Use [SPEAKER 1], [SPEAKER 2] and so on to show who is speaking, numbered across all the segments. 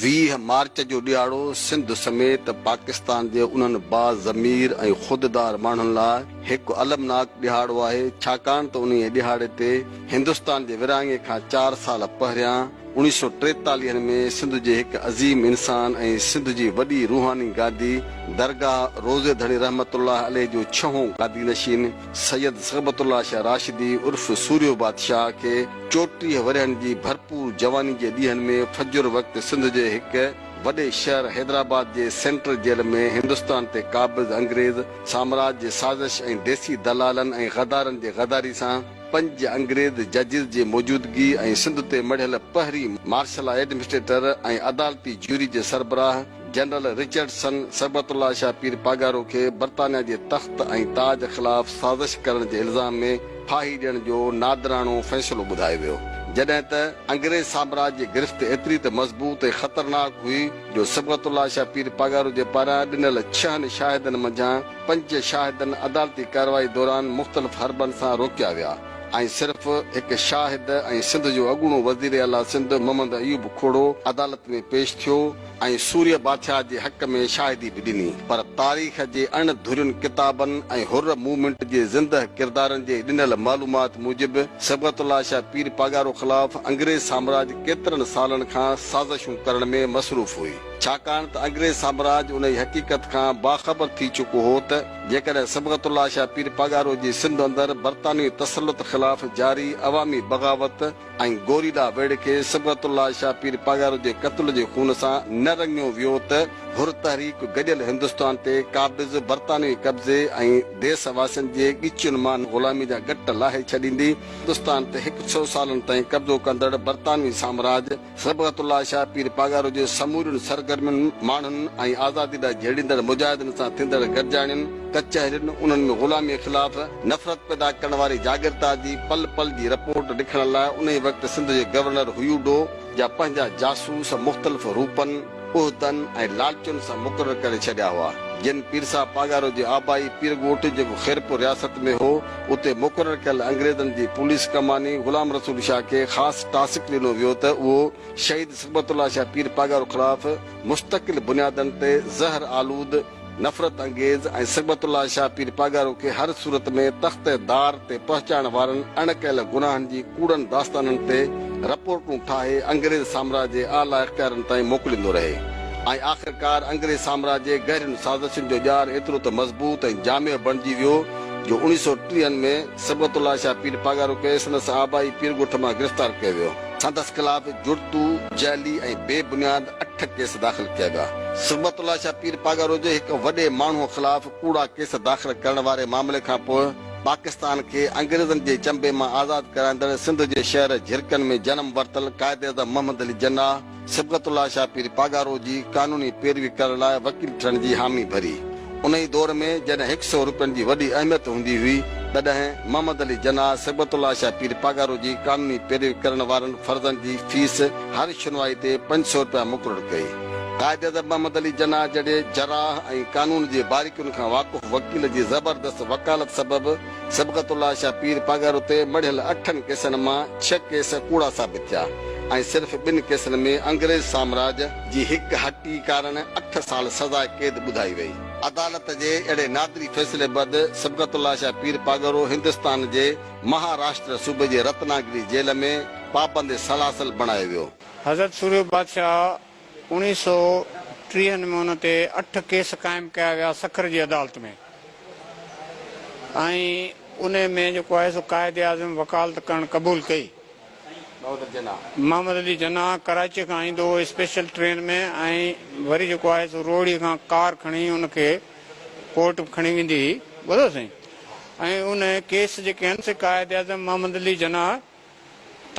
[SPEAKER 1] ويهه مارچ جو ڏهاڙو سنڌ سميت پاڪستان جي انهن با ضمير ۽ خوددار ماڻهن لاء هڪ المناڪ ڏهاڙو آهي ڇاڪاڻ ته انهيء ڏهاڙي تي هندستان جي ورهاڱي کان چار سال پهريان اڻيهه سؤ ٽيتاليهن ۾ سنڌ جي هڪ عظيم انسان ۽ سنڌ جي وڏي روحاني گادي درگاهه روضي ڌڻي رحمت الله عليه جو ڇهون گادي نشين سيد صحبت الله شاهه راشدي عرف سورهيو بادشاهه کي چوٽيهه ورهين جي ڀرپور جواني جي ڏينهن ۾ فجر وقت سنڌ جي هڪ وڏي شهر حيدرآباد جي سينٽرل جيل ۾ هندستان تي قابض انگريز سامراج جي سازش ۽ ديسي دلالن ۽ غدارن جي غداري سان پنج انگريز ججز جي موجودگي ۽ سنڌ تي مڙهيل پهرين مارشل لا ايڊمنسٽريٽر ۽ عدالتي جيوري جي سربراهه جنرل رچرڊسن صبغت الله شاهه پير پاڳارو کي برطانيا جي تخت ۽ تاج خلاف سازش ڪرڻ جي الزام ۾ ڦاهي ڏيڻ جو نادراڻو فيصلو ٻڌايو ويو جڏهن ته انگريز سامراج جي گرفت ايتري ته مضبوط ۽ خطرناڪ هئي جو صبغت الله شاهه پير پاڳارو جي پاران ڏنل ڇهن شاهدن منجهان پنج شاهدن عدالتي ڪارروائي دوران مختلف حربن سان روڪيا ويا ۽ صرف هڪ شاهد ۽ سنڌ جو اڳوڻو وزير اعليٰ سنڌ محمد ايوب کهڙو عدالت ۾ پيش ٿيو ۽ سوريه بادشاهه جي حق ۾ شاهدي به ڏني پر تاريخ جي اڻ ڌرين ڪتابن ۽ حر موومينٽ جي زندهه ڪردارن جي ڏنل معلومات موجب صبغت الله شاهه پير پاڳارو خلاف انگريز سامراج ڪيترن سالن کان سازشون ڪرڻ ۾ مصروف هئي. ڇاڪاڻ ته انگريز سامراج انهيء حقيقت کان باخبر ٿي چڪو هو ته جيڪڏهن صبغت الله شاهه پير پاڳارو جي سنڌ اندر برطانوي تسلط خلاف جاري عوامي بغاوت ۽ گوريلا ويڙهه کي صبغت الله شاهه پير پاڳارو جي قتل جي خون سان نه رڱيو ويو ته حر تحريڪ گڏيل هندستان تي قابض برطانوي قبضي ۽ ديس واسين جي ڳچين مان غلامي جا ڳٽ لاهي ڇڏيندي هندستان تي هڪ سو سالن تائين قبضو ڪندڙ برطانوي سامراج صبغت الله شاهه پير پاڳارو جي سمورين سرگرمين، ماڻهن ۽ آزادي لاء جهيڙيندڙ مجاهدن سان ٿيندڙ گڏجاڻين، ڪچهرين، انهن ۾ غلاميء خلاف نفرت پيدا ڪرڻ واري جاڳرتا جي پل پل جي رپورٽ لکڻ لاء انهيء وقت سنڌ جي گورنر هيوڊو جا پنهنجا جاسوس مختلف روپن، عهدن ۽ لالچن سان مقرر ڪري ڇڏيا هئا، جن پير صاحب پاڳارو جي آبائي پير ڳوٺ جيڪو خيرپور رياست ۾ هو، اتي مقرر ڪيل انگريزن جي پوليس ڪماني غلام رسول شاهه کي خاص ٽاسڪ ڏنو ويو ته اهو شهيد صبغت الله شاهه پير پاڳارو خلاف مستقل بنيادن تي زهر آلود نفرت انگيز ۽ صبغت الله شاهه پير پاڳارو کي هر صورت ۾ تخت دار تي پهچائڻ وارن اڻ ڪيل گناهن جي ڪوڙن داستانن تي رپورٽون ٺاهي انگريز سامراج جي اعليٰ اختيارن تائين موڪليندو رهي ۽ آخرڪار انگريز سامراج جي گهرين سازشن جو ڄار ايترو ته مضبوط ۽ جامع بڻجي ويو جو اوڻيهه سؤ ٽيهن ۾ صبغت الله شاهه پير پاڳارو کي سندس آبائي پيرڳوٺ مان گرفتار ڪيو ويو. سندس خلاف جڙتو، جعلي ۽ بي بنياد اٺ ڪيس داخل ڪيا ويا. صبغت الله شاهه پير پاڳارو جي هڪ وڏي ماڻهوء خلاف ڪوڙا ڪيس داخل ڪرڻ واري معاملي کان پوء پاڪستان کي انگريزن جي چنبي مان آزاد ڪرائيندڙ سنڌ جي شهر جهرڪن ۾ جنم ورتل قائد اعظم محمد علي جناح صبغت الله شاهه پير پاڳارو جي قانوني پيروي ڪرڻ لاء وڪيل ٺھڻ جي حامي ڀري. انهي دور ۾ جڏهن هڪ سئو روپين جي وڏي اهميت هوندي هئي تڏهن محمد علي جناح صبغت الله شاهه پير پاڳارو جي قانوني پيروي ڪرڻ وارن فرضن جي فيس هر شنوائي تي پنج سئو رپيا مقرر ڪئي. قائداعظم محمد علي جناح جهڙي جراح ۽ قانون جي باريڪين کان واقف وڪيل جي زبردست وڪالت سبب صبغت الله شاهه پير پاڳارو تي مڙهيل اٺن ڪيسن مان ڇهه ڪيس ڪوڙا ثابت ٿيا ۽ صرف ٻن ڪيسن ۾ انگريز سامراج جي هڪ هٽي ڪارڻ اٺ سال سزاء قيد ٻڌائي وئي. عدالت جي اهڙي نادري فيصلي بعد صبغت الله شاهه پير پاڳارو هندستان جي مهاراشٽر صوبي جي رتناگري جيل ۾ پابند سلاسل بڻايو ويو. حضرت سوريو
[SPEAKER 2] بادشاهه اوڻيهه سؤ ٽيهن ۾ ان تي اٺ ڪيس قائم ڪيا ويا سکر جي عدالت ۾ ۽ انهي ۾ جيڪو آهي سو قائد اعظم وڪالت ڪرڻ قبول ڪئي. محمد علي جناح ڪراچيء کان ايندو هو اسپيشل ٽرين ۾ ۽ وري جيڪو آهي سو روهڙي کان ڪار کڻي ان کي ڪورٽ به کڻي ويندي هئي ٻڌو سائين ۽ ان ڪيس جيڪي هن سي قائد اعظم محمد علي جناح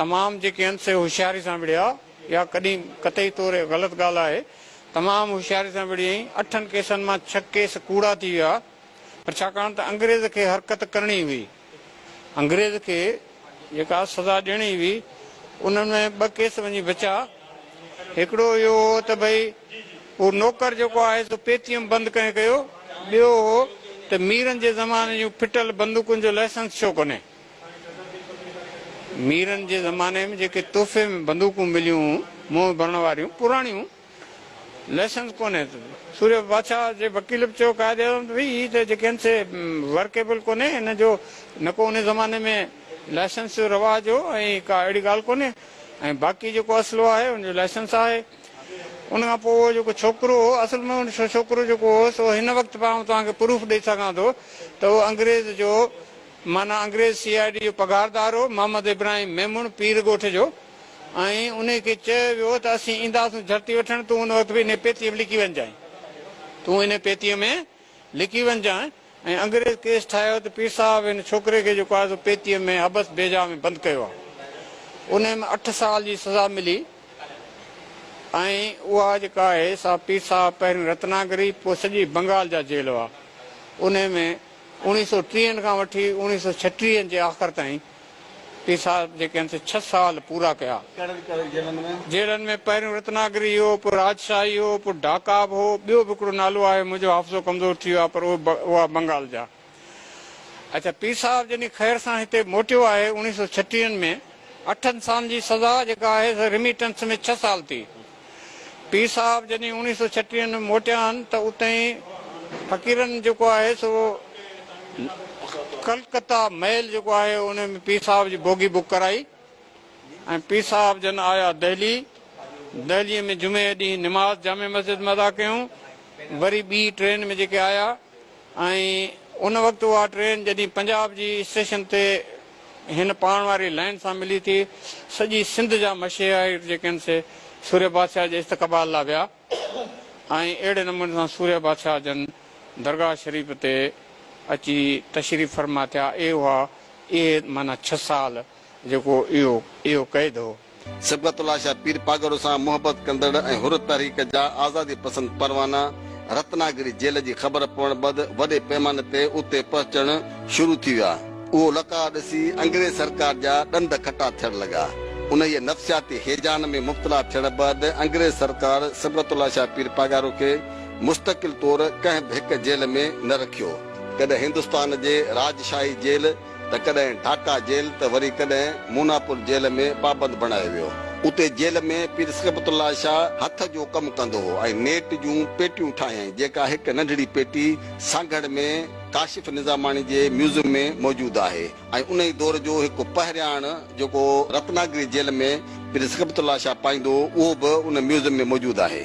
[SPEAKER 2] تمام جيڪي هن سي هوشياري سان وڙهيا اها ڪڏي قطعي طور غلط ڳالهه آهي تمام هوشياري سان وڙهيائين اٺن ڪيسن مان ڇهه ڪيس ڪوڙا ٿي ويا پر ڇاڪاڻ ته انگريز کي حرڪت ڪرڻي هئي. انگريز کي جيڪا سزا ڏيڻي هئي انهن ۾ ٻه ڪيس وڃي بچا. هڪڙو اهو هو ته ڀئي هو نوڪر جيڪو آهي سو پيتيم بند ڪنهن ڪيو، ٻيو هو ته ميرن جي زماني جون ڦٽل بندوقن جو لائسنس ڇو ڪونهي. ميرن جي زماني ۾ جيڪي تحفي ۾ بندوقون مليون هون منهن ڀرڻ واريون پراڻيون، لائسنس ڪونهي ته سوريو بادشاهه جي وڪيل به چيو قائد اعظم ته ڀئي هي ته جيڪي آهن سي ورڪيبل ڪونهي هن جو نه ڪو ان زماني ۾ لائسنس جو رواج هو ۽ ڪا اهڙي ڳالهه ڪونهي ۽ باقي جيڪو اسلحو آهي ان جو لائسنس آهي ان کان پوء اهو جيڪو ڇوڪرو هو اصل ۾ ان ڇوڪرو جيڪو هو سو هن وقت به آئون توهان کي پروف ڏئي سگهان ٿو ته اهو انگريز جو معنيٰ انگريز سي آء ڊي جو پگهاردار هو محمد ابراهيم ميمڻ پير ڳوٺ جو ۽ انهي کي چيو ويو ته اسين اينداسون جهرتي وٺڻ، تون ان وقت به انهي پيتيء ۾ لڪي وڃجانء. تون انهي پيتيء ۾ لڪي وڃجانء. ۽ انگريز ڪيس ٺاهيو ته پير صاحب هن ڇوڪري کي جيڪو آهي سو پيتيء ۾ حبس بيجا ۾ بند ڪيو آهي. انهي ۾ اٺ سال جي سزا ملي ۽ اها جيڪا آهي سا پير صاحب پهريون رتناگري پوء سڄي بنگال جا جيل هئا. انهي ۾ اوڻيهه سؤ ٽيهن کان وٺي اوڻيهه سؤ ڇٽيهن جي آخر تائين. پير صاحب جيڪي هن سين ڇهه سال پورا ڪيا. ڪهڙن ڪهڙن جيلن ۾؟ جيلن ۾ پهريون رتناگري هو، پوء راجشاهي هو، پوء ڍاڪا به هو، ٻيو به هڪڙو نالو آهي، منهنجو حافظو ڪمزور ٿي ويو آهي، پر اهي هئا بنگال جا. اڇا پير صاحب جڏهن خير سان هتي موٽيو آهي اوڻيهه سؤ ڇٽيهن ۾، اٺن سالن جي سزا جيڪا آهي سا رميٽنس ۾ ڇهه سال ٿي، پير صاحب جڏهن اوڻيهه سؤ ڇٽيهه ۾ موٽيا آهن ته اتي فقيرن جيڪو آهي سو ڪلڪتا ميل جيڪو آهي ان ۾ پير صاحب جي بوگي بڪ ڪرائي ۽ پير صاحب جن آيا دهلي دهلي ۾ جمعي ڏينهن نماز جامع مسجد ۾ ادا ڪيون وري ٻي ٽرين ۾ جيڪي آيا ۽ ان وقت اها ٽرين جڏهن پنجاب جي اسٽيشن تي هن پاڻ واري لائين سان ملي ٿي، سڄي سنڌ جا مشيهائر جيڪي آهن سي سورهيه بادشاهه جي استقبال لاء ويا ۽ اهڙي نموني سان سورهيه بادشاهه جن درگاهه شريف تي اچي تشريف فرما ٿيا اهي هئا اهي معنيٰ ڇهه سال جيڪو اهو اهو قيد هو. صبغت الله شاهه
[SPEAKER 1] پير پاڳارو سان محبت ڪندڙ ۽ حر تحريڪ جا آزادي پسند پروانا رتنا گري جيل جي خبر پوڻ بعد وڏي پيماني تي اتي پهچڻ شروع ٿي ويا. اهو لقاء ڏسي انگريز سرڪار جا ڏند کٽا ٿيڻ لڳا. انهيء نفسياتي هيجان ۾ مبتلا ٿيڻ بعد انگريز سرڪار صبغت الله شاهه پير پاڳارو کي مستقل طور ڪنهن به هڪ جيل ۾ نه رکيو. ڪڏهن هندستان جي راجشاهي جيل ته ڪڏهن ڍاڪا جيل ته وري ڪڏهن موناپور جيل ۾ پابند بڻايو ويو. اتي جيل ۾ پير صبغت الله شاهه هٿ جو ڪم ڪندو هو ۽ نيٽ جون پيٽيون ٺاهيائين جيڪا هڪ ننڍڙي پيٽي سانگهڙ ۾ ڪاشف نظاماڻي جي ميوزم ۾ موجود آهي ۽ انهي دور جو هڪ پهرياڻ جيڪو رتناگري جيل ۾ پير صبغت الله شاهه پائيندو هو اهو به ان ميوزم ۾ موجود آهي.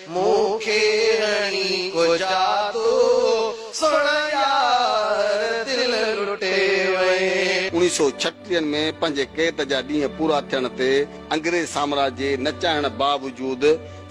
[SPEAKER 3] مون کي هڻي ڪجا تو سڻ يار دل لٽي وئين. اڻيهه سؤ ڇٽيهن
[SPEAKER 1] ۾ پنهنجي قيد جا ڏينهن پورا ٿيڻ تي انگريز سامراج جي نه چاهڻ باوجود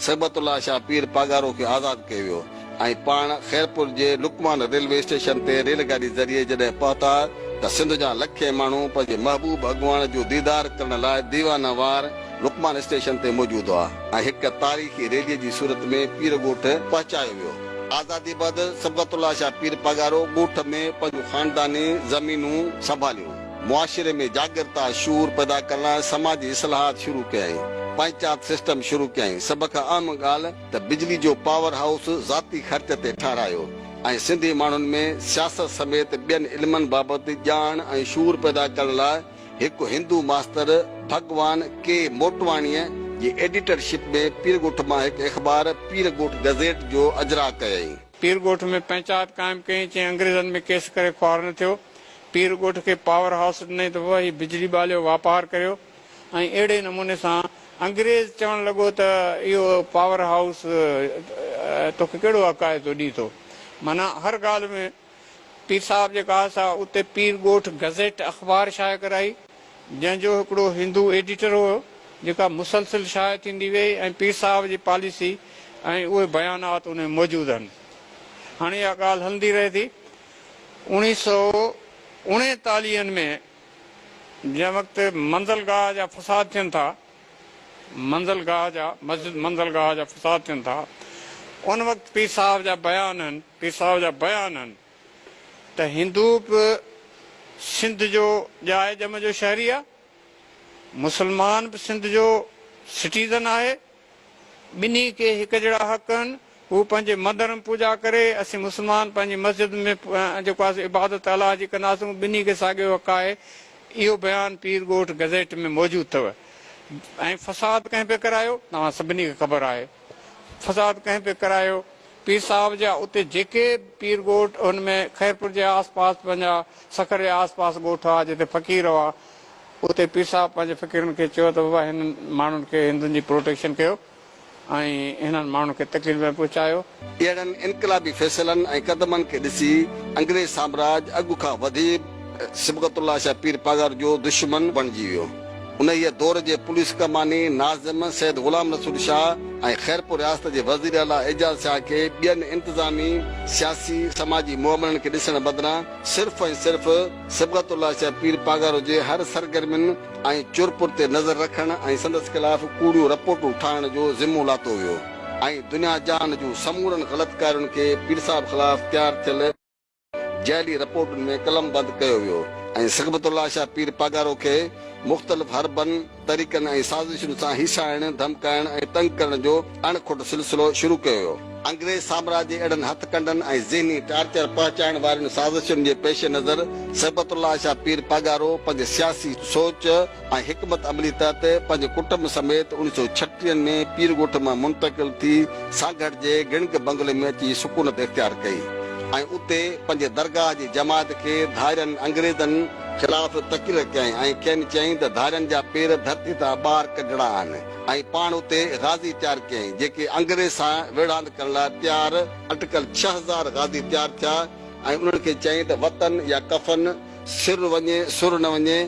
[SPEAKER 1] صبغت الله شاهه پير پاڳارو کي آزاد ڪيو ويو ۽ پاڻ خيرپور جي لقمان ريلوي اسٽيشن تي ريل گاڏي ذريعي جڏهن پهتا ته سنڌ جا لکين ماڻهو پنهنجي محبوب اڳواڻ جو ديدار ڪرڻ لاء ديوانه وار لقمان اسٽيشن تي موجود هئا ۽ هڪ تاريخي ريلي جي صورت ۾ پير ڳوٺ پهچايو ويو. آزادي بعد صبغت الله شاهه پير پاڳارو ڳوٺ ۾ پنهنجون خانداني زمينون سنڀاليون، معاشري ۾ جاڳرتا شعور پيدا ڪرڻ لاء سماجي اصلاحات شروع ڪيائين، پنچات سسٽم شروع ڪيائين، سڀ کان اهم ڳالهه ته بجلي جو پاور هائوس ذاتي خرچ تي ٺهرايو ۽ سنڌي ماڻهن ۾ سياست سميت ٻين علمن بابت ڄاڻ ۽ شعور پيدا ڪرڻ لاء هڪ هندو ماستر ڀڳوان ڪي موٽواڻيء جي ايڊيٽر شپ ۾ پير ڳوٺ مان هڪ اخبار پير ڳوٺ گزيٽ جو اجراء ڪيائين. پير ڳوٺ ۾
[SPEAKER 2] پنچائت قائم ڪيائين، چيائين انگريزن ۾ ڪيس ڪري خوار نه ٿيو. پير ڳوٺ کي پاور هائوس ڏنائين ته بابا هي بجلي ٻاليو، واپار ڪريو ۽ اهڙي نموني سان انگريز چوڻ لڳو ته اهو پاور هائوس توکي ڪهڙو عقائد ٿو ڏئي ٿو معنيٰ هر ڳالهه ۾. پير صاحب جي ڪاهه سان اتي پير ڳوٺ گزيٽ اخبار شايع ڪرائي، جنهن جو هڪڙو هندو ايڊيٽر هو، جيڪا مسلسل شايع ٿيندي ويئي ۽ پير صاحب جي پاليسي ۽ اهي بيانات ان ۾ موجود آهن. هاڻي اها ڳالهه هلندي رهي ٿي. اوڻيهه سؤ اڻيتاليهن ۾ جنهن وقت منزل گاهه جا فساد ٿين ٿا، منزل گاهه جا، مسجد منزل گاهه جا فساد ٿين ٿا، ان وقت پير صاحب جا بيان آهن. پير صاحب جا بيان آهن ته هندو به سنڌ جو ڄاء ڄم جو شهري آهي، مسلمان به سنڌ جو سٽيزن آهي، ٻنهي کي هڪجهڙا حق آهن، هو پنهنجي مندر ۾ پوڄا ڪري، اسين مسلمان پنهنجي مسجد ۾ جيڪو آهي عبادت الله جي ڪنداسون، ٻنهي کي ساڳيو حق آهي، اهو بيان پير ڳوٺ گزيٽ ۾ موجود اٿو ۽ فساد ڪنهن پئي ڪرايو؟ توهان سڀني کي خبر آهي فساد ڪنهن پئي ڪرايو؟ پير صاحب جا اتي جيڪي به پير ڳوٺ هن ۾ خيرپور جي آس پاس پنهنجا سکر جي آس پاس ڳوٺ هئا جتي فقير هئا اتي پير صاحب پنهنجي فقيرن کي چيو ته بابا هنن ماڻهن کي هندن جي پروٽيڪشن ڪيو ۽ هنن ماڻهن کي تڪليف نه پهچايو. اهڙن انقلابي
[SPEAKER 1] فيصلن ۽ قدمن کي ڏسي انگريز سامراج اڳ کان وڌيڪ صبغت الله شاهه پير پاڳارو جو دشمن بڻجي ويو. انهيء دور جي پوليس ڪماني ناظم سيد غلام رسول شاهه ۽ خيرپور رياست جي وزير اعليٰ اعجاز شاهه کي ٻين انتظامي، سياسي، سماجي معاملن کي ڏسڻ بدران صرف ۽ صرف صبغت الله شاهه پير پاڳارو جي هر سرگرمين ۽ چرپر تي نظر رکڻ ۽ سندس خلاف ڪوڙيون رپورٽون ٺاهڻ جو ذمو لاتو ويو ۽ دنيا جهان جون سمورن غلط ڪارين کي پير صاحب خلاف تيار ٿيل جعلي رپورٽن ۾ قلمبند ڪيو ويو ۽ صحبت الله شاهه پير پاڳارو کي مختلف حربن، طريقن ۽ سازشن سان هيسائڻ، ڌمڪائڻ ۽ تنگ ڪرڻ جو اڻ کوٽ سلسلو شروع ڪيو ويو. انگريز سامراج جي اهڙن هٿ ڪنڊن ۽ ذهني ٽارچر پهچائڻ وارين سازشن جي پيش نظر صحبت الله شاهه پير پاڳارو پنهنجي سياسي سوچ، ۽ حڪمت عملي تحت پنهنجي ڪٽنب سميت اڻيهه سؤ ڇٽيهن ۾ پير ڳوٺ مان منتقل ٿي سانگهڙ جي گڻڪ بنگلي ۾ اچي سڪونت اختيار ڪئي ۽ اتي پنهنجي درگاهه جي جماعت کي ڌارين انگريزن خلاف تقرير ڪيائين ۽ کين چيائين ته ڌارين جا پير ڌرتي تان ٻاهر ڪڍڻا آهن ۽ پاڻ اتي غازي تيار ڪيائين جيڪي انگريز سان ويڙهاند ڪرڻ لاء تيار اٽڪل ڇهه هزار غازي تيار ٿيا ۽ انهن کي چيائين ته وطن يا ڪفن. سر وڃي سر نه وڃي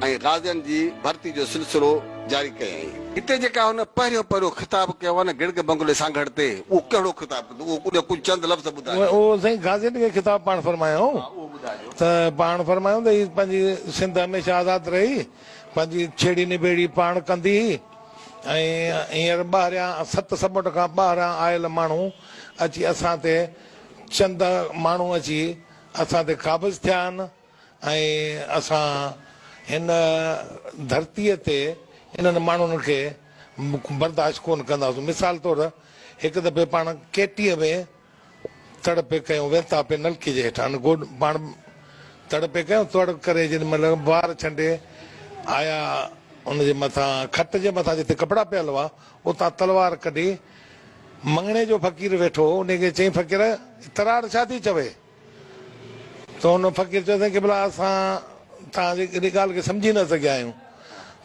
[SPEAKER 1] ۽ غازين جي ڀرتي جو سلسلو جاري ڪيائين. هتي جيڪا هن پهريون پهريون خطاب ڪيو آهي نه گڙگي بنگلي سانگهڙ تي اهو ڪهڙو خطاب ڪيو اٿو ان جا ڪجهه چند لفظ ٻڌايو. اهو سائين غازين کي
[SPEAKER 4] خطاب پاڻ فرمايائون. ها اهو ٻڌايو. ته پاڻ فرمايائون ته هي پنهنجي سنڌ هميشه آزاد رهي پنهنجي ڇيڙي نبيڙي پاڻ ڪندي ۽ هينئر ٻاهريان ست سمنڊ کان ٻاهران آيل ماڻهو اچي اسان تي چند ماڻهو اچي اسان تي قابض ٿيا آهن ۽ اسان هن ڌرتيء تي انهن ماڻهن کي برداشت ڪونه ڪنداسون. مثال طور هڪ دفعي پاڻ ڪيٽيء ۾ تڙ پئي ڪيون، وينتا پئي نلڪي جي هيٺان گوڏ پاڻ تڙ پئي ڪيون، تڙ ڪري جيڏي مهل بار ڇنڊي آيا ان جي مٿان کٽ جي مٿان جتي ڪپڙا پيل هئا اتان تلوار ڪڍي، مڱڻي جو فقير ويٺو هو، انهي کي چيائين فقير! تراڙ ڇا ٿي چوي؟ ته ان فقير چيو سائين قبلا اسان توهان جي ڪيڏي ڳالهه کي سمجهي نه سگهيا آهيون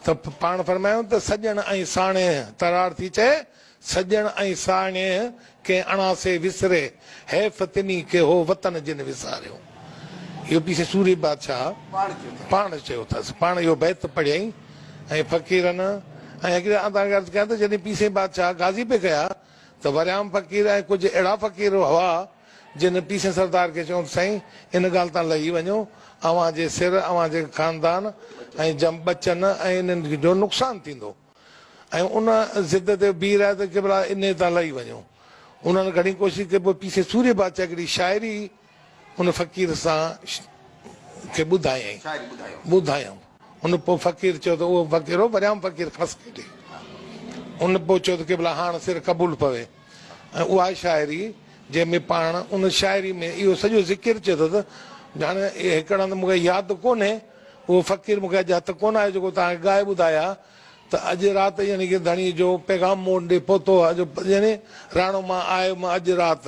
[SPEAKER 4] ته پاڻ فرمايو ته سڄڻ ۽ ساڻيهه تراڙ ٿي چئي، سڄڻ ۽ ساڻيهه ڪنهن اڻاسي وسري، حيف تنھي کي ھو وطن جنھن وساريو. اھو پيشي سورھي بادشاھھ پاڻ چيو اٿس. پاڻ اھو بيت پڙھيائين ۽ فقيرن ۽ اڳيئن آن توھان کي عرض ڪيان تھ جڏھن پيشي بادشاھھ غازي پئي ڪيا تھ وريام فقير ۽ ڪجھھ اھڙا فقير ھئا جنھن پيشي سردار کي چيو تھ سائين ان ڳالھھ تان لھي وڃو اوھان جي سر اوھان جي خاندان ۽ جنھھ ٻچن ۽ انھن جو نقصان ٿيندو. ۽ ان ضد تي بيهي رهيا ته ڪيبلا انهيء تان لهي وڃو. انهن گهڻي ڪوشش ڪئي پوء پيسي سوري بادشاهه هڪڙي شاعري ان فقير سان کي ٻڌايائين. شاعري ٻڌايائون. ٻڌايائون. ان پوء فقير چيو ته اهو فقير هو پريام فقير ڦس کيڏي. ان پوء چيو ته ڪيبلا هاڻ سر قبول پوي ۽ اها شاعري جنهن ۾ پاڻ ان شاعري ۾ اهو سڄو ذڪر چيو اٿس جهاڻي هيڪڙ هنڌ مون کي ياد ڪونهي اهو فقير مون کي اڄ هٿ ڪونه آيو جيڪو توهان کي ڳائي ٻڌايا ته اڄ رات يعني ڪي ڌڻي جو پيغام مون وٽ ڏي پهتو آهي جو يعني راڻو مان آيو مان اڄ رات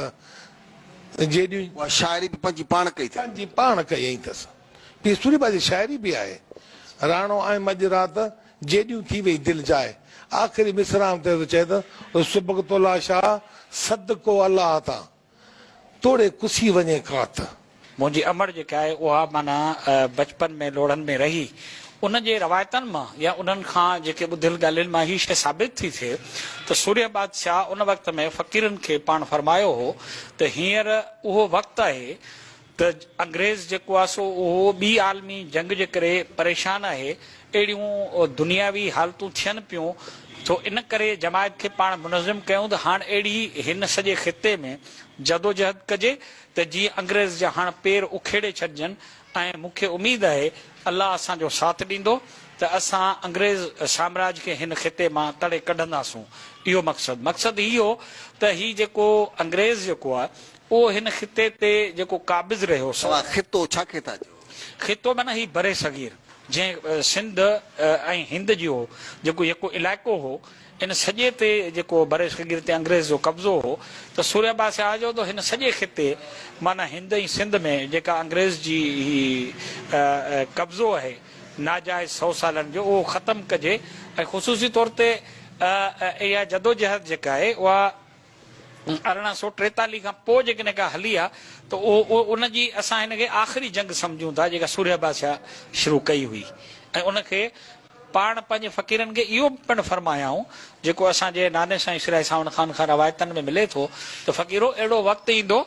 [SPEAKER 4] جيڏيون. اها شاعري به پنهنجي
[SPEAKER 1] پاڻ ڪئي اٿئي. پنهنجي پاڻ ڪئي اهي
[SPEAKER 4] اٿس. پير سوري بابا جي شاعري به آهي. راڻو آيم اڄ رات جيڏيون ٿي وئي دل جاء. آخري مصرعن تي ٿو چئي ته سبقت الله شاهه سد ڪو الله تان. توڙي ڪسي وڃي ڪات. منهنجي امڙ
[SPEAKER 5] جيڪا آهي اها معنيٰ بچپن ۾ لوڙهن ۾ رهي ان جي روايتن مان يا انهن کان جيڪي ٻڌل ڳالهين مان هي شيء ثابت ٿي ٿئي ته سورهيه بادشاهه ان وقت ۾ فقيرن کي پاڻ فرمايو هو ته هينئر اهو وقت آهي ته انگريز جيڪو آهي سو اهو ٻي عالمي جنگ جي ڪري پريشان آهي اهڙيون دنياوي حالتون ٿين پيون سو ان ڪري جماعت کي پاڻ منظم ڪيون ته هاڻ اهڙي هن سڄي خطي ۾ جدوجهد ڪجي ته جيئن انگريز جا هاڻ پير اکيڙي ڇڏجن ۽ مون کي اميد آهي الله اسان جو ساٿ ڏيندو ته اسان انگريز سامراج کي هن خطي مان تڙي ڪڍنداسون اهو مقصد مقصد هي هو ته هي جيڪو انگريز جيڪو آهي اهو هن خطي تي جيڪو قابض رهيو سو. توهان خطو ڇا کي
[SPEAKER 1] ٿا چئو؟ خطو معنيٰ هي
[SPEAKER 5] برصغير جنهن سنڌ ۽ هند جي هو جيڪو يڪو علائقو هو ان سڄي تي جيڪو برصغير تي انگريز جو قبضو هو ته سوريا با سياح جو ته هن سڄي خطي معنيٰ هند ۽ سنڌ ۾ جيڪا انگريز جي هي قبضو اهي ناجائز سئو سالن جو اهو ختم ڪجي ۽ خصوصي طور تي اها جدوجهد جيڪا اهي اها ارڙهن سؤ ٽيتاليهه کان پوء جيڪڏهن ڪا هلي آ ته ان جي اسان هن کي آخري جنگ سمجهون ٿا جيڪا سورهيه بادشاهه شروع ڪئي هئي ۽ ان کي پاڻ پنهنجي فقيرن کي اهو به پڻ فرمايائون جيڪو اسان جي ناني سائين شيرائي ساوند خان کان روايتن ۾ ملي ٿو ته فقيرو اهڙو وقت ايندو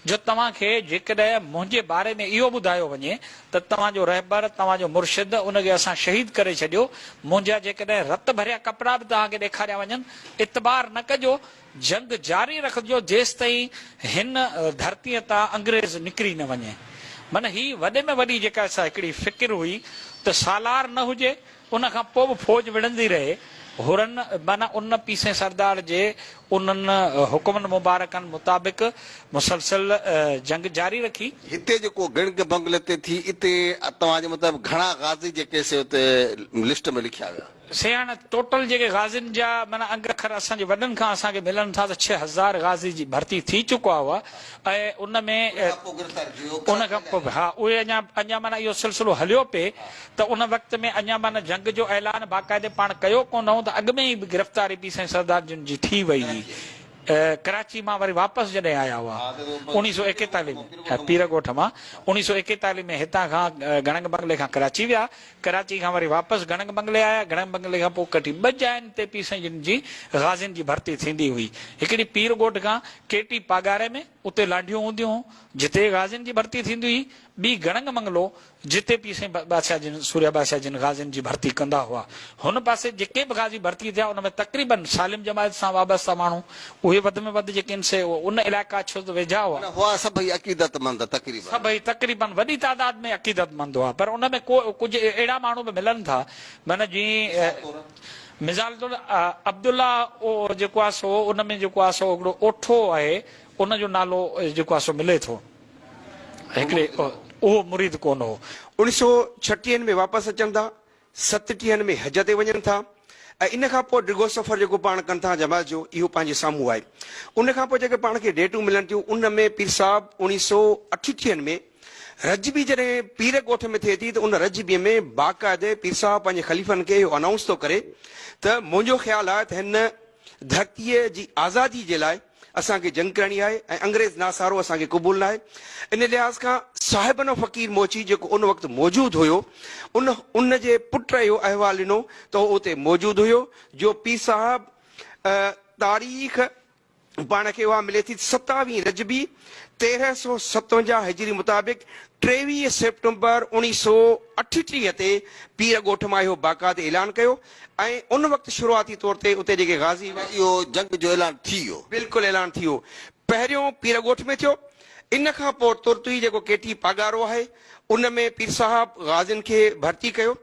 [SPEAKER 5] جو توهان کي جيڪڏهن منهنجي باري ۾ اهو ٻڌايو وڃي ته توهان جو رهبر، توهان جو مرشد، ان کي اسان شهيد ڪري ڇڏيو، منهنجا جيڪڏهن رت ڀريا ڪپڙا به توهان کي ڏيکاريا وڃن، اعتبار نه ڪجو، جنگ جاري رکجو جيستائين هن ڌرتيء تان انگريز نڪري نه وڃي. من هي وڏي ۾ وڏي جيڪا سا هڪڙي فڪر هئي ته سالار نه هجي ان کان پوء به فوج وڙهندي رهي. حرن معنيٰ ان پيسين سردار جي انهن حڪمن مبارڪن مطابق مسلسل جنگ جاري رکي. هتي جيڪو گڻگي
[SPEAKER 1] بنگلي تي ٿي، اتي توهان جي مطابق گهڻا غازي جيڪي سي اتي لسٽ ۾ لکيا ويا. سياڻ ٽوٽل
[SPEAKER 5] جيڪي غازين جا معنيٰ انگ اکر اسان جي وڏن کان اسان کي ملن ٿا ته ڇهه هزار غازي جي ڀرتي ٿي چڪا هئا ۽ ان ۾. ان کان پوء گرفتار ٿي ويو. ان کان پوء به ها اهي اڃا اڃا معنيٰ اهو سلسلو هليو پئي ته ان وقت ۾ اڃا معنيٰ جنگ جو اعلان باقاعدي پاڻ ڪيو ڪونه هو ته اڳ ۾ ئي گرفتاري به سائين سردار جن جي ٿي وئي هئي. ڪراچي مان وري واپس جڏهن آيا هئا اوڻيهه سؤ ايڪيتاليهه ۾ پير ڳوٺ مان اوڻيهه سؤ ايڪيتاليهه ۾ هتان کان گڙنگ بنگلي کان ڪراچي ويا ڪراچي کان وري واپس گڙنگ بنگلي آيا گڙنگ بنگلي کان پوء ڪٺي ٻه جاين تي پير سائين جن جي غازين جي ڀرتي ٿيندي هئي هڪڙي پير ڳوٺ کان ڪيٽي پاڳاري ۾ اتي لانڍيون هونديون هون جتي غازين جي ڀرتي ٿيندي هئي ٻي گڙنگ بنگلو جتي پير سائين بادشاهه جن سوريا بادشاهه جن غازين جي ڀرتي ڪندا هئا. هن پاسي جيڪي به غازي ڀرتي ٿيا ان ۾ تقريباً سالم جماعت سان وابسته ماڻهو اهي وڌ ۾ وڌ جيڪي ان سي او ان علائقا ڇو ته ويجها هئا. معنيٰ هئا سڀئي عقيدت مند
[SPEAKER 1] تقريباً. سڀئي تقريباً
[SPEAKER 5] وڏي تعداد ۾ عقيدت مند هئا پر ان ۾ ڪو ڪجهه اهڙا ماڻهو به ملن ٿا معنيٰ جيئن مثال طور. مثال طور عبدالله او جيڪو آهي سو ان ۾ جيڪو آهي سو هڪڙو اوٺو آهي ان جو نالو جيڪو آهي سو ملي ٿو. هڪڙي اهو مريد ڪونه هو. انهن سو ڇٽيهن
[SPEAKER 6] ۾ واپس اچن ٿا، ستٽيهن ۾ حج تي وڃن ٿا ۽ ان کان پوء ڊگهو سفر جيڪو پاڻ ڪن ٿا جماعت جو اهو پنهنجي سامهون آهي. ان کان پوء جيڪي پاڻ کي ڊيٽون ملن ٿيون ان ۾ پير صاحب انهن سو اٺٽيهن ۾ رجبي جڏهن پير ڳوٺ ۾ ٿئي ٿي ته ان رجبي ۾ باقاعدي پير صاحب پنهنجي خليفن کي اهو انائونس ٿو ڪري ته منهنجو خيال آهي ته هن ڌرتيء جي آزادي جي لاء اسان کي جنگ ڪرڻي آهي ۽ انگريز ناسارو اسان کي قبول ناهي. ان لحاظ کان صاحبن و فقير موچي جيڪو ان وقت موجود هيو ان ان جي پٽ اهو احوال ڏنو ته هو اتي موجود هيو جو پير صاحب تاريخ پاڻ کي اها ملي ٿي ته ستاويهه رجبي تيرهن سؤ ستونجاهه هجري مطابق ٽيويهه سيپٽمبر اوڻيهه سؤ اٺٽيهه تي پير ڳوٺ مان اهو باقاعدي اعلان ڪيو ۽ ان وقت شروعاتي طور تي اتي جيڪي غازي هئا. اهو جنگ جو
[SPEAKER 1] اعلان ٿي ويو. بلڪل اعلان ٿي ويو.
[SPEAKER 6] پهريون پير ڳوٺ ۾ ٿيو. ان کان پوء ترت ئي جيڪو ڪيٽي پاڳارو آهي ان ۾ پير صاحب غازين کي ڀرتي ڪيو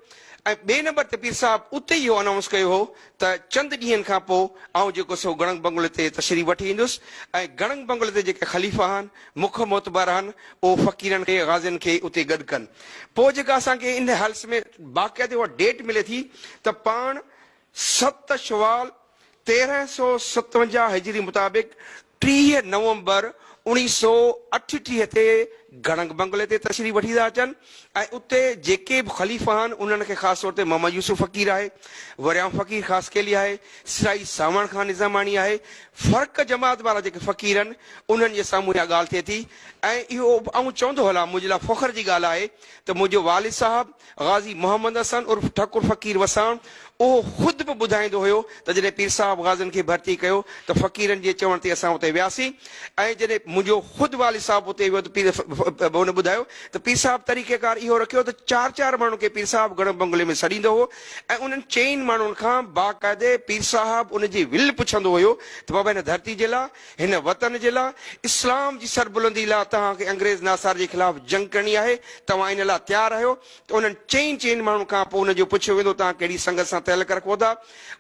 [SPEAKER 6] ۽ ٻئي نمبر تي پير صاحب اتي ئي اهو انائونس ڪيو هو ته چند ڏينهن کان پوء آئون جيڪو سو گڙنگ بنگلي تي تشريف وٺي ايندس ۽ گڙنگ بنگلي تي جيڪي خليفا آهن مک معتبر آهن، اهو فقيرن کي، غازين کي اتي گڏ ڪن. پوء جيڪا اسان کي ان هلس ۾ باقاعدي اها ڊيٽ ملي ٿي ته پاڻ ست شوال تيرهن سؤ ستونجاهه هجري مطابق ٽيهه نومبر اوڻيهه سؤ اٺٽيهه تي گڙنگ بنگلي تي تشريف وٺي ٿا اچن ۽ اتي جيڪي به خليفا آهن انهن کي خاص طور تي محمد يوسف فقير آهي، وريام فقير خاصخيلي آهي، سرائي سانوڻ خان نظاماڻي آهي، فرق جماعت وارا جيڪي فقير آهن انهن جي سامهون اها ڳالهه ٿئي ٿي ۽ اهو به آئون چوندو هلان منهنجي لاء فخر جي ڳالهه آهي ته منهنجو والد صاحب غازي محمد حسن عرف ٺڪر فقير وساڻ اهو خود به ٻڌائيندو هيو ته جڏهن پير صاحب غازين کي ڀرتي ڪيو ته فقيرن جي چوڻ تي اسان اتي وياسين ۽ جڏهن منهنجو خود والد صاحب اتي ويو ته پير هن ٻڌايو ته پير صاحب طريقه ڪار اهو رکيو ته چار چار ماڻهن کي پير صاحب گهڻو بنگلي ۾ سڏيندو هو ۽ انهن چئين ماڻهن کان باقاعدي پير صاحب ان جي ول پڇندو هيو ته بابا هن ڌرتي جي لا هن وطن جي لا اسلام جي سربلندي لا توهان کي انگريز ناصار جي خلاف جنگ ڪرڻي آهي توهان ان لا تيار آهيو ته انهن چئين چئين ماڻهن کان پوء ان جو پڇيو ويندو توهان ڪهڙي سنگت سان تعلق رکو ٿا؟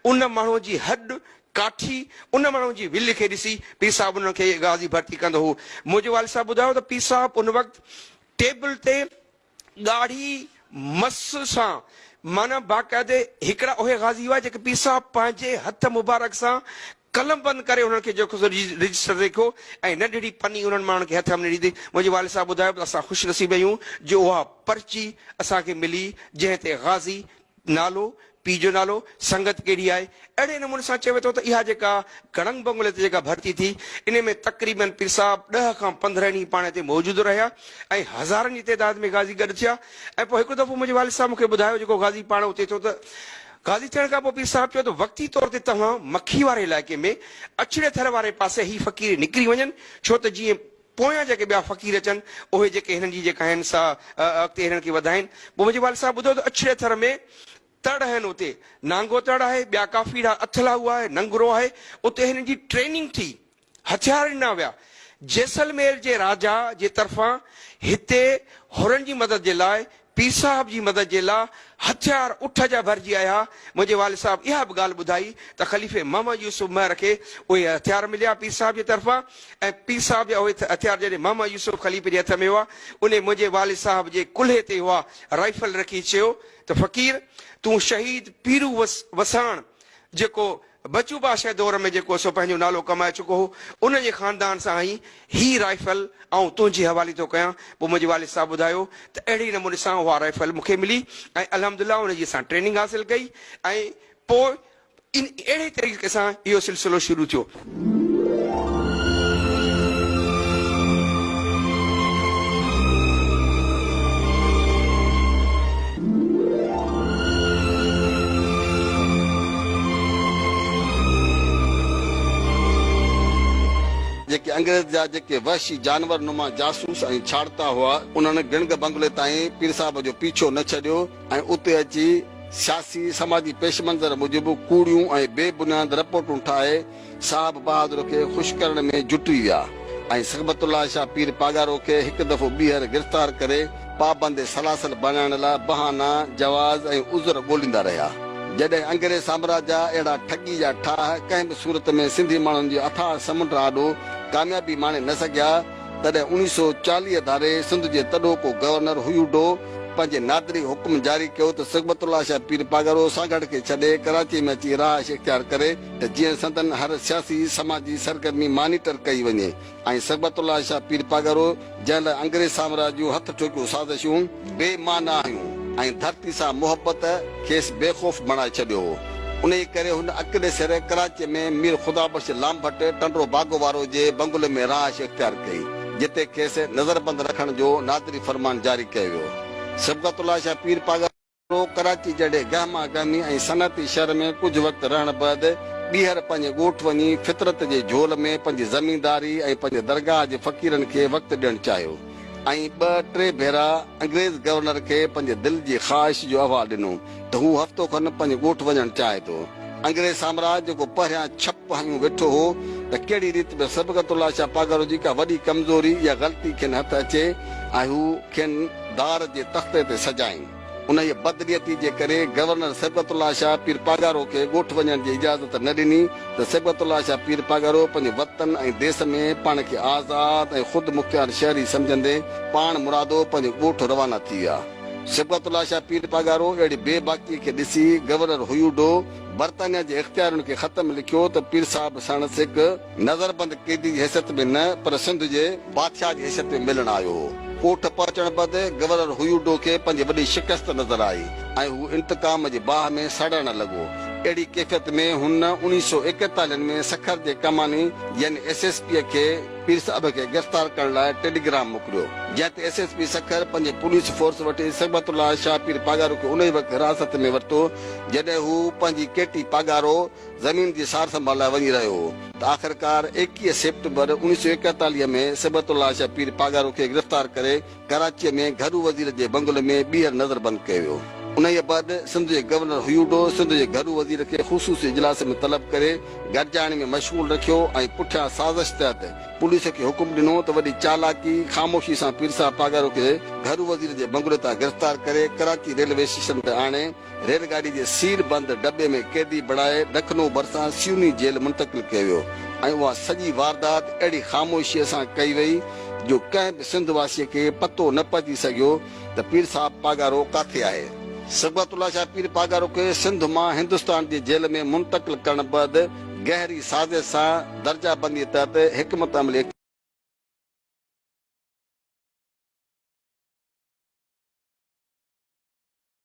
[SPEAKER 6] ان ماڻهو جي هڏ، ڪاٺي، ان ماڻهو جي ولهه کي ڏسي پير صاحب انهن کي غازي ڀرتي ڪندو هو. منهنجي والد صاحب ٻڌايو ته پير صاحب ان وقت ٽيبل تي ڳاڙهي مس سان معنيٰ باقاعدي هڪڙا اهي غازي هئا جيڪي پير صاحب پنهنجي هٿ مبارڪ سان قلم بند ڪري انهن کي جيڪو سو رجسٽر ليکيو ۽ ننڍڙي پني انهن ماڻهن کي هٿ ۾ ڏيندي منهنجي والد صاحب ٻڌايو ته اسان خوش نصيب آهيون جو اها پرچي اسان کي ملي جنهن تي غازي نالو، پيء جو نالو، سنگت ڪهڙي آهي اهڙي نموني سان چيو ويو ٿو ته اها جيڪا گڙنگ بنگلي تي جيڪا ڀرتي ٿي انهي ۾ تقريبن پير صاحب ڏهه کان پندرهن ئي پاڻي تي موجود رهيا ۽ هزارن جي تعداد ۾ غازي گڏ ٿيا ۽ پوء هڪڙو دفعو منهنجي والد صاحب مون کي ٻڌايو جيڪو غازي پاڻ اتي ٿيو ته قاضي ٿيڻ کان پوء پير صاحب چيو ته وقتي طور تي توهان مکي واري علائقي ۾ اڇڙي ٿر واري پاسي هي فقير نڪري وڃن ڇو ته جيئن پويان جيڪي ٻيا فقير اچن اهي جيڪي هنن جي جيڪا آهن سا اڳتي هنن کي وڌائين پوء منهنجي والد صاحب ٻڌو ته اڇڙي ٿر ۾ تڙ آهن اتي نانگو تڙ آهي ٻيا ڪافي اڙا اٿل آهي اها ننگرو آهي اتي هنن جي ٽريننگ ٿي هٿيار ڏنا ويا. جيسلمير جي راجا جي طرفان هتي حرن جي مدد جي لاء، پير صاحب جي مدد جي لاء هٿيار اٺ جا ڀرجي آيا. منهنجي والد صاحب اها به ڳالهه ٻڌائي ته خليفي محمد يوسف مهر کي اهي هٿيار مليا پير صاحب جي طرفان ۽ پير صاحب جا اهي هٿيار جڏهن محمد يوسف خليفي جي هٿ ۾ هئا انهي منهنجي والد صاحب جي ڪلهي تي اها رائفل رکي چيو ته فقير تون شهيد پيرو وساڻ جيڪو بچو بادشاهه دور ۾ جيڪو سو پنهنجو نالو ڪمائي چڪو هو، ان جي خاندان سان هي هي رائفل آئون تنهنجي حوالي ٿو ڪيان. پوء منهنجي والد صاحب ٻڌايو ته اهڙي نموني سان اها رائفل مون کي ملي ۽ الحمد الله ان جي اسان ٽريننگ حاصل ڪئي ۽ پوء ان اهڙي طريقي سان اهو سلسلو شروع ٿيو.
[SPEAKER 1] جيڪي انگريز جا جيڪي وحشي جانور نما جاسوس ۽ ڇاڙتا هئا، انهن گڻگ بنگلي تائين پير صاحب جو پيڇو نه ڇڏيو ۽ اتي اچي سياسي سماجي پيش منظر موجب ڪوڙيون ۽ بي بنياد رپورٽون ٺاهي، صاحب بهادر کي خوش ڪرڻ ۾ جٽي ويا ۽ صحبت الله شاهه پير پاڳارو کي هڪ دفعو ٻيهر گرفتار ڪري پابند سلاسل بڻائڻ لاء بهانا، جواز ۽ عذر ڳوليندا رهيا. جڏهن انگريز سامراج جا اهڙا ٺڳي جا ٺاهه ڪنهن به صورت ۾ سنڌي ماڻهن جي اٿاهه سمنڊ آڏو ڪاميابي ماڻي نه سگهيا، تڏهن اوڻيهه سؤ چاليهه ڌاري سنڌ جي تڏهوڪو گورنر هيوڊو پنهنجي نادري حڪم جاري ڪيو ته صحبت الله شاهه پير پاڳارو سانگهڙ کي ڇڏي ڪراچي ۾ اچي رهائش اختيار ڪري. ته جيئن سندن هر سياسي سماجي سرگرمي مانيٽر ڪئي وڃي ۽ صبغت الله شاهه پير پاڳارو جنهن لاء انگريز سامراج جون هٿ ٺوڪيون سازشون بي معنيٰ هيون ۽ ڌرتي سان محبت کيس بي خوف بڻائي ڇڏيو هو انهيء ڪري هن اڪلي سر ڪراچيء ۾ مير خدا بخش لامڀٽ ٽنڊو باگو وارو جي بنگلي ۾ رهائش اختيار ڪئي جتي کيس نظربند رکڻ جو نادري فرمان جاري ڪيو ويو صبغت الله شاهه پير پاڳارو پوء ڪراچي جهڙي گهما گهمي ۽ صنعتي شهر ۾ ڪجهه وقت رهڻ بعد ٻيهر پنهنجي ڳوٺ وڃي فطرت جي جهول ۾ پنهنجي زمينداري ۽ پنهنجي درگاهه جي فقيرن کي وقت ڏيڻ چاهيو ۽ ٻه ٽي ڀيرا انگريز گورنر کي پنهنجي دل جي خواهش جو احوال ڏنو ته هو هفتو کن پنهنجي ڳوٺ وڃڻ چاهي ٿو انگريز سامراج جيڪو پهريان ڇپ هنيون ويٺو هو ته ڪهڙي ريت به صبغت الله شاهه پاڳارو جي ڪا وڏي ڪمزوري يا غلطي کين هٿ اچي ۽ هو کين دار جي تختي تي سجائين. انهيء بدنيتي جي ڪري گورنر صبغت الله شاهه پير پاڳارو کي ڳوٺ وڃڻ جي اجازت نه ڏني ته صبغت الله شاهه پير پاڳارو پنهنجي وطن ۽ ديس ۾ پاڻ کي آزاد ۽ خود مختيار شهري سمجهندي پاڻ مرادو پنهنجي ڳوٺ روانا ٿي ويا. صبغت الله شاهه پير پاڳارو اهڙي بي باڪيء کي ڏسي گورنر هيوڊو برطانيا جي اختيارين کي خط ۾ لکيو ته پير صاحب ساڻس هڪ نظربند قيدي جي حيثيت ۾ نه پر سنڌ جي بادشاهه جي حيثيت ۾ ملڻ آيو هو. ڪوٺ پهچڻ بعد گورنر هيوڊو کي پنهنجي وڏي شڪست نظر آئي ۽ هو انتقام جي باهه ۾ سڙڻ لڳو. اهڙي ڪيفيت ۾ هن اڻيهه سؤ ايڪيتاليهن ۾ سکر جي ڪماني يعني ايس ايس پيء کي پير صاحب کي گرفتار ڪرڻ لاء ٽيليگرام موڪليو، جنهن تي ايس ايس پي سکر پنهنجي پوليس فورس وٺي صبغت الله شاهه پير پاڳارو کي انهي وقت حراست ۾ ورتو جڏهن هو پنهنجي ڪيٽي پاڳارو، زمين جي سار سنڀال لاء وڃي رهيو هو ته آخرڪار ايڪيهه سيپٽمبر اوڻيهه سؤ ايڪيتاليهه ۾ صبغت الله شاهه پير پاڳارو کي گرفتار ڪري ڪراچيء ۾ گهرو وزير جي بنگلي ۾ ٻيهر نظر بند ڪيو ويو. انهيء بعد سنڌ جي گورنر هيوڊو سنڌ جي گهرو وزير کي خصوصي اجلاس ۾ طلب ڪري گڏجاڻي ۾ مشغول رکيو ۽ پٺيان سازش تحت پوليس کي حڪم ڏنو ته وڏي چالاڪي خاموشي سان پير صاحب پاڳارو کي گهرو وزير جي بنگلي تان گرفتار ڪري ڪراچي ريلوي اسٽيشن تي آڻي ريل گاڏي جي سيل بند ڊٻي ۾ قيدي بڻائي لکنؤ ڀرسان سيوني جيل منتقل ڪيو ويو ۽ اها سڄي واردات اهڙي خاموشيء سان ڪئي وئي جو ڪنهن به سنڌ واسيء کي پتو نه پئجي سگهيو ته پير صاحب پاڳارو ڪاٿي آهي. صبغت الله شاهه پير پاڳارو کي سنڌ مان هندستان جي جيل ۾ منتقل ڪرڻ بعد گهري سازش سان درجه بنديء تحت حڪمت عملي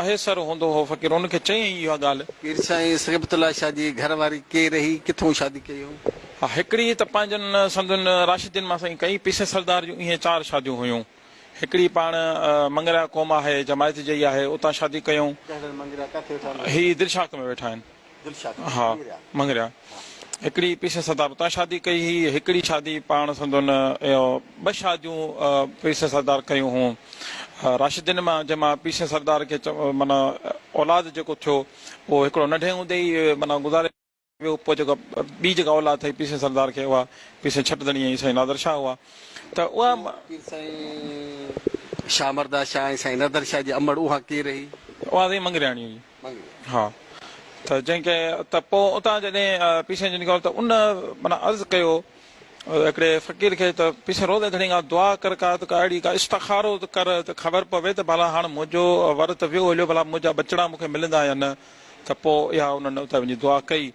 [SPEAKER 7] پهيسر هوندو هو. فقير ان کي چيائين اها ڳالهه. پير سائين صحبت
[SPEAKER 1] الله شاهه جي گهر واري ڪير هئي؟ ڪٿون شادي ڪئي هئو؟ ها هڪڙي ته
[SPEAKER 7] پنهنجن سنڌين راشدين مان سائين ڪئي. پيسي سردار جون اهي چار شاديون هيون. هڪڙي پاڻ منڱريا قوم آهي، جماعت جئي آهي، اتان شادي ڪيئون. ڪهڙن منڱريا ڪاٿي ويٺا آهن؟ هي دلشاخ ۾ ويٺا آهن. ها مڱريا هڪڙي پريسس سردار اتان شادي ڪئي هئي هڪڙي شادي پاڻ سندن ٻه شاديون پريسس سردار ڪيون هون راشدين مان جنهن مان پريسس سردار کي معنيٰ اولاد جيڪو ٿيو اهو هڪڙو ننڍي هوندي ئي معنيٰ گذاري ويو پوء جيڪا ٻي جيڪا اولاد ٿئي پريسس سردار کي اها پير سائين ڇٽ ڌڻي ۽ سائين نادر شاهه هئا ته اها پير سائين
[SPEAKER 1] شاهه مرده شاهه ۽ سائين نادر شاهه جي امڙ اها ڪير رهي؟ اها سائين مڱرياڻي
[SPEAKER 7] هئي. ها ته جنهن کي ته پوء اتان جڏهن پيشين جو نڪريو ته ان معنيٰ عرض ڪيو هڪڙي فقير کي ته پيشين روز ادڻي کان دعا ڪر ڪا ته ڪا اهڙي ڪا استخارو ته ڪر ته خبر پوي ته ڀلا هاڻ منهنجو ورت ويو هليو ڀلا منهنجا ٻچڙا مون کي ملندا يا نه ته پوء اها انهن اتي وڃي دعا ڪئي.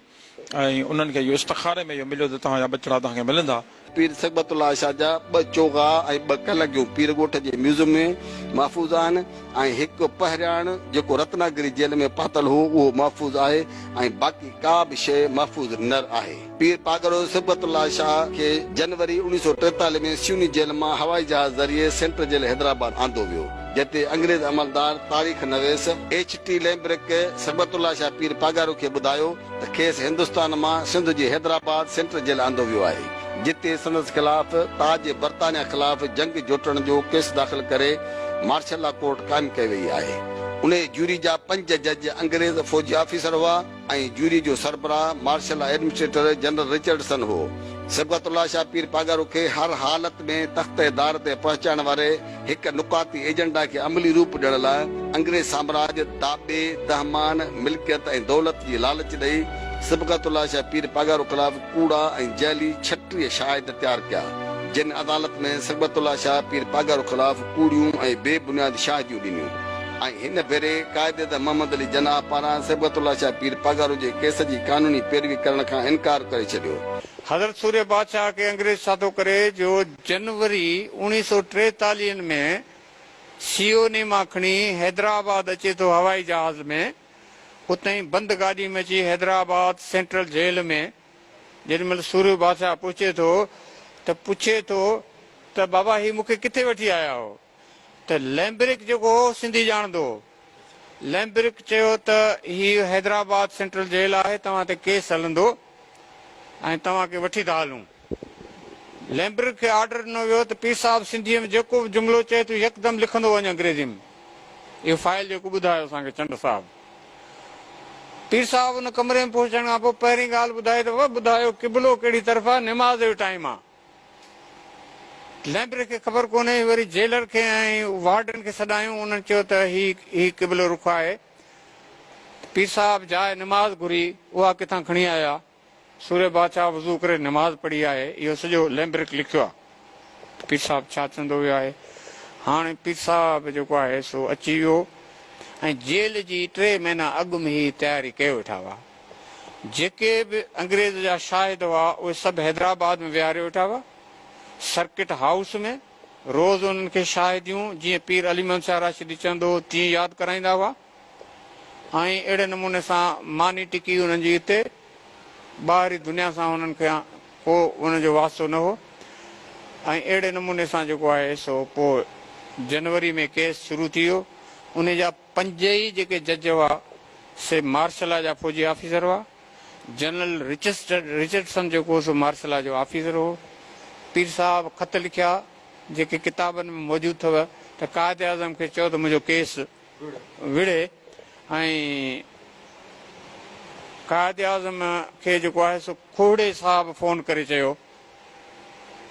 [SPEAKER 7] ۽ انهن کي اهو استخاري ۾ اهو مليو ته توهان جا ٻچڙا توهان کي ملندا. پير صحبت الله
[SPEAKER 1] شاهه جا ٻه چوغا ۽ ٻه ڪلگيون پير ڳوٺ جي ميوزم ۾ محفوظ آهن ۽ هڪ پهرياڻ جيڪو رتناگري جيل ۾ پاتل هو اهو محفوظ آهي ۽ باقي ڪا به شيء محفوظ نر آهي. پير پاڳارو صحبت الله شاهه کي جنوري اوڻيهه سؤ ٽيتاليهه ۾ سيوني جيل مان هوائي جهاز ذريعي سينٽرل جيل حيدرآباد آندو ويو. جنهن تي انگريز عملدار تاريخ نويس H T Lambrick Sibghat Ullah Shah پير پاڳارو کي ٻڌايو ته کيس هندستان مان سنڌ جي حيدرآباد سينٽر جيل آندو ويو آهي جتي سندس خلاف تاج برطانيا خلاف جنگ جوٽڻ جو ڪيس داخل ڪري مارشل لا ڪورٽ قائم ڪئي وئي آهي انهيء جوري جا پنج جج انگريز فوجي آفيسر هئا. ۽ جوري جو سربراهه مارشل ايڊمنسٽريٽر جنرل رچرڊسن هو. صبغت الله شاهه پير پاڳارو کي هر حالت ۾ تخت دار تي پهچائڻ واري هڪ نقاطي ايجنڊا کي عملي روپ ڏيڻ لاء انگريز سامراج داٻي، دهمان، ملڪيت ۽ دولت جي لالچ ڏئي صبغت الله شاهه پير پاڳارو خلاف ڪوڙا ۽ جعلي ڇٽيهه شاهد تيار ڪيا، جن عدالت ۾ صبغت الله شاهه پير پاڳارو خلاف ڪوڙيون ۽ بي بنياد شاهديون ڏنيون. ۽ هن ڀيري قائداعظم محمد علي جناح پاران صبغت الله شاهه پير پاڳارو جي ڪيس جي قانوني پيروي ڪرڻ کان انڪار ڪري ڇڏيو. حضرت سوريه
[SPEAKER 2] بادشاهه کي انگريز سادو ڪري جو جنوري اوڻيهه سؤ ٽيتاليهن ۾ سيوني مان کڻي حيدرآباد اچي ٿو هوائي جهاز ۾ اتهين بند گاڏي ۾ اچي حيدرآباد سينٽرل جيل ۾ جيڏي مهل سوريو بادشاهه پهچي ٿو ته پڇي ٿو ته بابا هي مون کي ڪٿي وٺي آيا هو؟ ته لئمبرڪ جيڪو هو سنڌي ڄاڻندو هو. لئمبرڪ چيو ته هي حيدرآباد سينٽرل جيل آهي توهان تي ڪيس هلندو ۽ توهان کي وٺي ٿا هلون. لئمبرڪ کي آرڊر ڏنو ويو ته پير صاحب سنڌيء ۾ جيڪو به جملو چئي تون يڪدم لکندو وڃ انگريزي ۾ اهو فائل جيڪو ٻڌايو اسان کي چنڊ صاحب. پير صاحب ان ڪمري ۾ پهچڻ کان پوء پهرين ڳالهه ٻڌائي ته ٻڌايو قبلو ڪهڙي طرف آهي نماز جو ٽائيم آهي. ليمبري کي خبر ڪونهي هي وري جيلر کي ۽ وارڊن کي سڏايون انهن چيو ته هي هي قبله رخ آهي پير صاحب جاء نماز گهري اها ڪٿان کڻي آيا سوري بادشاهه وضو ڪري نماز پڙهي آهي اهو سڄو ليمبرڪ لکيو آهي ته پير صاحب ڇا چوندو ويو آهي هاڻي پير صاحب جيڪو آهي سو اچي ويو ۽ جيل جي ٽي مهينا اڳ م هي تياري ڪيو ويٺا هئا. جيڪي به انگريز جا شاهد هئا اهي سڀ حيدرآباد ۾ ويهاري ويٺا هئا سرڪٽ هائوس ۾ روز انهن کي شاهديون جيئن پير علي محمد شاهه راشدي چوندو هو تيئن ياد ڪرائيندا هئا ۽ اهڙي نموني سان ماني ٽڪي انهن جي هتي ٻاهري دنيا سان هنن کي ڪو انهن جو واسطو نه هو ۽ اهڙي نموني سان جيڪو آهي سو پوء جنوري ۾ ڪيس شروع ٿي ويو انهي جا پنج ئي جيڪي جج هئا، سي مارشل لا جا فوجي آفيسر هئا. جنرل رچسٽرڊ رچرڊسن جيڪو هو سو مارشل لا جو آفيسر هو. پير صاحب خط لکيا، جيڪي ڪتابن ۾ موجود اٿو ته قائد اعظم کي چئو ته منهنجو ڪيس وڙهي ۽ قائد اعظم کي جيڪو آهي سو کوهڙي صاحب فون ڪري چيو.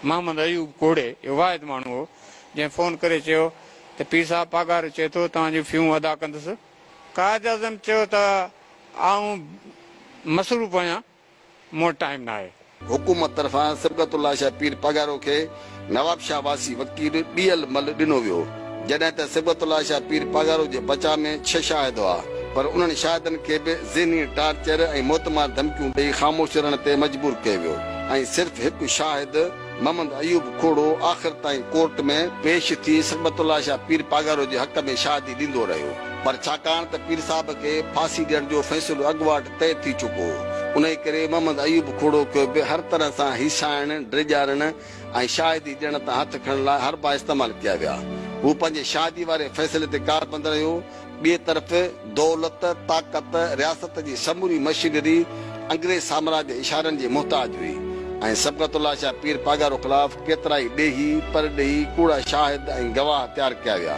[SPEAKER 2] محمد ايوب کوڙي اهو واحد ماڻهو هو جنهن فون ڪري چيو ته پير صاحب پاڳارو چئي ٿو توهان جون فيون ادا ڪندس. قائداعظم چيو ته آئون مصروف آهيان مون وٽ ٽائيم ناهي. حڪومت طرفان
[SPEAKER 1] صبغت الله شاهه پير پاڳارو کي نوابشاهه واسي وڪيل ڏيهل مل ڏنو ويو. جڏهن ته صبغت الله شاهه پير پاڳارو جي بچاء ۾ ڇهه شاهد هئا، پر انهن شاهدن کي به ذهني ٽارچر ۽ موتمار ڌمڪيون ڏئي خاموش رهڻ تي مجبور ڪيو ويو ۽ صرف هڪ شاهد محمد ايوب کوڙو آخر تائين ڪورٽ ۾ پيش ٿي صبغت الله شاهه پير پاڳارو جي حق ۾ شاهدي ڏيندو رهيو، پر ڇاڪاڻ ته پير صاحب کي ڦاسي ڏيڻ جو فيصلو اڳواٽ طئي ٿي چڪو هو، انهي ڪري محمد ايوب کوڙو کي به هر طرح سان هيسائڻ، ڊيڄارڻ، ۽ شاهدي ڏيڻ تان هٿ کڻڻ لاء حربا استعمال ڪيا ويا. هو پنهنجي شاهدي واري فيصلي تي ڪاربند رهيو. ٻئي طرف دولت، طاقت، رياست جي سموري مشينري انگريز سامراج جي اشارن جي محتاج هئي ۽ صبغت الله شاهه پير پاڳارو خلاف ڪيترائي ڏيهي، پرڏيهي، ڪوڙا شاهد ۽ گواهه تيار ڪيا ويا.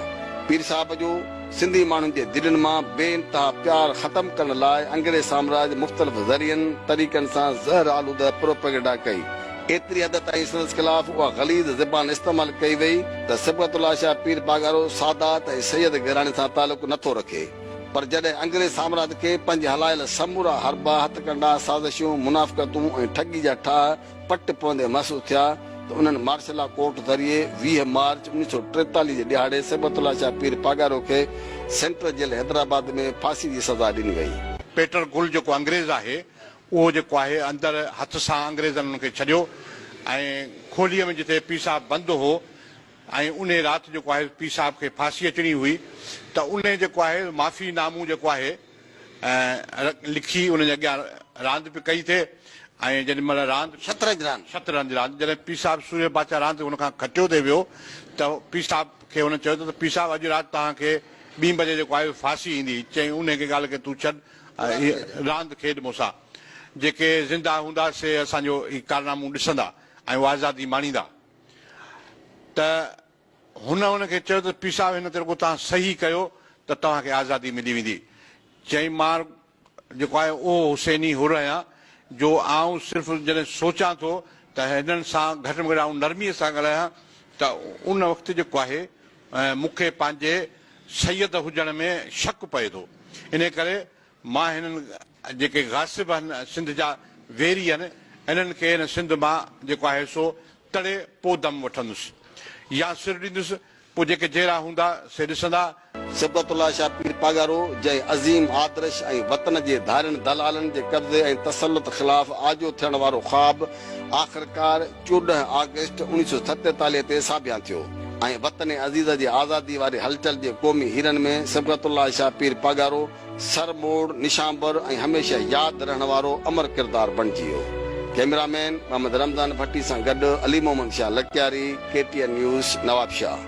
[SPEAKER 1] پير صاحب جو سنڌي ماڻهن جي دلين مان بي انتها پيار ختم ڪرڻ لاء انگريز سامراج مختلف ذريعن، طريقن سان زهر آلوده پروپيگنڊا ڪئي. ايتري حد تائين سندس خلاف اها غليظ زبان استعمال ڪئي وئي ته صبغت الله شاهه پير پاڳارو سادات ۽ سيد گهراڻي سان تعلق نه ٿو رکي پر جڏهن انگريز سامراج کي پنهنجي هلايل سمورا حربا، هٿڪنڊا، سازشون، منافقتون ۽ ٺڳي جا ٺاهه پٽ پوندي محسوس ٿيا ته انهن مارشل لا ڪورٽ ذريعي ويهه مارچ اوڻيهه سؤ ٽيتاليهه جي ڏهاڙي صبغت الله شاهه پير پاڳارو کي سينٽرل جيل حيدرآباد ۾ ڦاسي جي سزا ڏني وئي. پيٽر گل جيڪو
[SPEAKER 8] انگريز آهي اهو جيڪو آهي اندر هٿ سان انگريزن ان کي ڇڏيو ۽ کوليء ۾ جتي پير صاحب بند هو ۽ انهي رات جيڪو آهي پير صاحب کي ڦاسي اچڻي هئي ته انهي جيڪو آهي معافي نامون جيڪو آهي لکي انهن جي اڳيان راند به ڪئي ٿي ۽ جيڏي مهل راند شطرنج راند. شطرنج راند جڏهن پير صاحب سورهيه بادشاهه راند هن کان کٽيو تي ويو ته پير صاحب کي هن چيو ته پير صاحب اڄ رات توهان کي ٻي بجي جيڪو آهي ڦاسي ايندي چيائين انهي کي ڳالهه کي تون ڇڏ اهي راند کيڏ مون سان. جيڪي زنده هوندا سي اسان جو هي ڪارنامون ڏسندا ۽ اها آزادي ماڻيندا. ته هن انهن کي چيو ته پير صاحب هن تي رڳو توهان صحيح ڪيو ته توهان کي آزادي ملي ويندي. چيائين مان جيڪو آهيان اهو حسيني حر آهيان جو آئون صرف جڏهن سوچان ٿو ته هنن سان گهٽ ۾ گهٽ آئون نرمي سان ڳالهايان ته ان وقت جيڪو آهي مون کي پنهنجي سيد هجڻ ۾ شڪ پئي ٿو. انهيء ڪري مان هنن جيڪي غاصب هن سنڌ جا ويري هن، انهن کي هن سنڌ مان جيڪو آهي سو تڙي پوء دم وٺندس. يا سر ڏيندس. پوء جيڪي جيئرا هوندا سي ڏسندا. صبغت الله شاهه
[SPEAKER 1] پير پاڳارو جنهن عظيم آدرش ۽ وطن جي ڌارين دلالن جي قبضي ۽ تسلط خلاف آجو ٿيڻ وارو خواب آخرڪار چوڏهن آگسٽ اوڻيهه سؤ ستيتاليهه تي ساڀيان ٿيو ۽ وطن عزيز جي آزادي واري هلچل جي قومي هيرن ۾ صبغت الله شاهه پير پاڳارو سر موڙ نشانبر ۽ هميشه ياد رهڻ وارو امر ڪردار بڻجي ويو. ڪئميرا مين محمد رمضان ڀٽي سان گڏ Ali Muhammad Shah Lakyari, K T N news, Nawabshah.